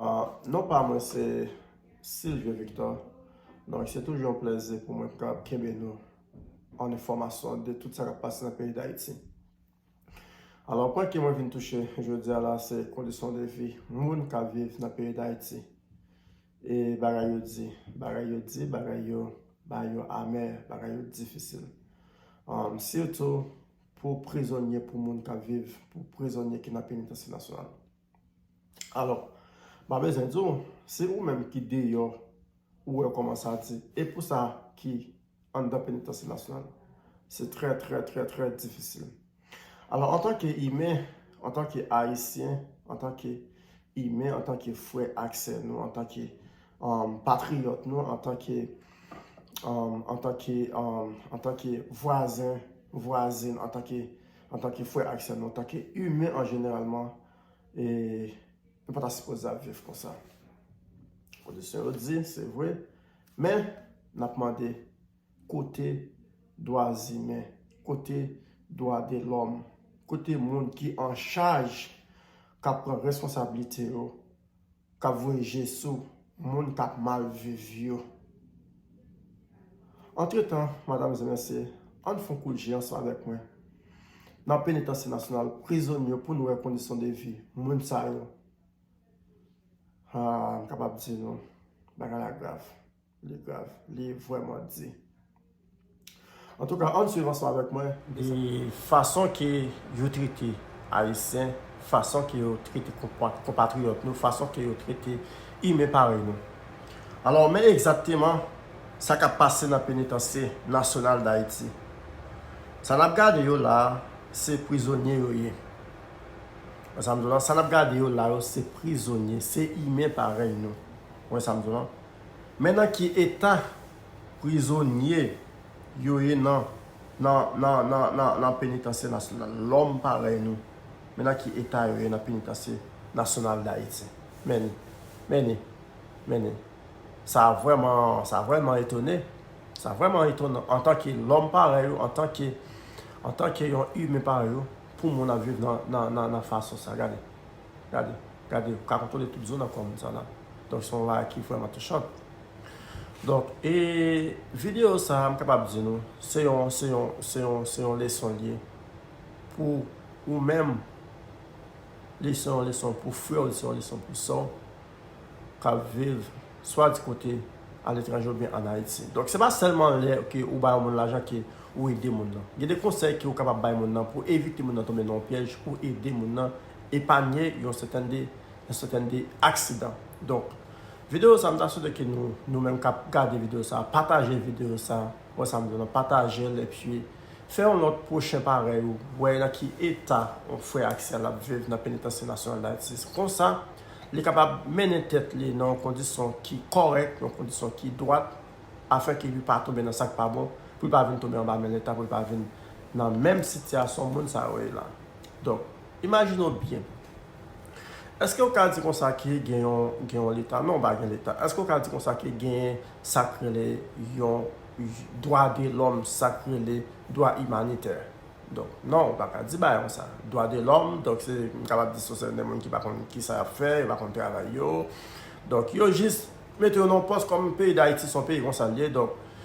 Non pa mwen se Sylvie Victor donk se toujou yon plèzi pou mwen kap kenbe nou an enfòmasyon de tout sa kap pase nan peyi Dayiti. Alò pwen ke mwen vin touche jodi a la se kondisyon de vi moun kap viv nan peyi Dayiti e bagay yo di, bagay yo di, bagay yo bagay yo amè, bagay yo difisil sitou pou prizonye pou moun kap viv pou prizonye ki nan penitansye nasyonal. Alò, m pa bezwen di w, se ou menm ki deyò ou wè kòman sa di. E pou sa ki anndan penitansye nasyonal, se trè trè trè trè difisil. Alò, antanke imen, antanke Ayisyen, antanke imen, antanke frè ak sè nou, antanke patriyòt nou, antanke antanke antanke vwazen, vwazin, antanke antanke Antanke frè ak sè nou, antanke imen an jeneralman, e nou pa ta sipoze ap viv konsa. Kondisyon yo di, se vre, men n ap mande kote dwa zimen, kote dwa de lòm, kote moun ki an chaj k ap pran responsablite yo Kap voye je sou moun kap mal viv yo. Antretan, madam e mesye, ann fon kout je ansanm avèk mwen nan penitansye nasyonal prizonye yo poun wè kondisyon de vi moun sa yo. Haa, m kapab di nou, bagay la grav. Li grav, li vreman di. Antouka, ann swiv ansanm avèk mwen. E fason ke yo trete Ayisyen, fason ke yo trete konpatriyòt nou, fason ke yo trete imen parèy nou. Alò, men egzakteman sa k ap pase nan Penitansye Nasyonal Dayiti. Sa n ap gade yo la a, se prizonye yo ye. Wè sa m di w la? Sa n ap gade yo la yo, se prizonye, se imen parèy nou. Wè sa m di w la? Men nan ki eta prizonye yo ye nan nan penitansye nasyonal lòm parèy nou men nan ki eta yo ye nan penitansye nasyonal dayiti men men men men sa vrèman sa vrèman etone sa vrèman etonan antanke lòm parèy ou antanke antanke yon imen parèy ou pou moun ap viv nan nan nan fason sa gade. Gade, gade, ou ka kontwole tout zo nan kò moun sa la. Donk se yon bagay ki vrèman touchan. Donk, e videyo sa a m kapab di nou, se yon, se yon, se yon, se yon leson l ye pou ou menm, li se yon leson pou frè w, li se yon leson pou sè w k ap viv swa di kote aletranje oubyen ann Ayiti. Donk se pa sèlman lè ke ou ba yon moun lajan ke ou ede moun nan. Gen de konsèy ke ou kapab bay moun nan pou evite moun nan tonbe nan yon pyèj pou ede moun nan epanye yon sèten de aksidan. Donk, videyo sa m ta swete ke nou, nou menm k ap gade videyo sa, pataje videyo sa, wè sa m di la, pataje l epi fè yon lòt pwochen parèy ou, wè nan ki eta yon frè ayisyèn ap viv nan Penitansye Nasyonal Dayiti. Konsa, li kapab mennen tèt li nan yon kondisyon ki kòrèk, yon kondisyon ki dwat, afin ke li pa tonbe nan sa k pa bon, pou li pa vin tonbe anba men Leta, pou li pa vin nan menm sitiyasyon moun sa yo ye la. Donk, imajine w byen. Èske ou ka di konsa ke gen yon leta? Non, pa gen leta. Èske ou ka di konsa ke gen sa k rele yon dwa de lòm, sa k rele dwa imanitè? Donk, non, ou pa ka di bagay konsa. Dwa de lòm, donk se, m kapab di se sèten de moun ki pa konn kisa y ap fè, yo pa konn travay yo. Donk, yo jis mete yo nan yon pòs kòm peyi Dayiti se yon peyi konsa l ye, donk.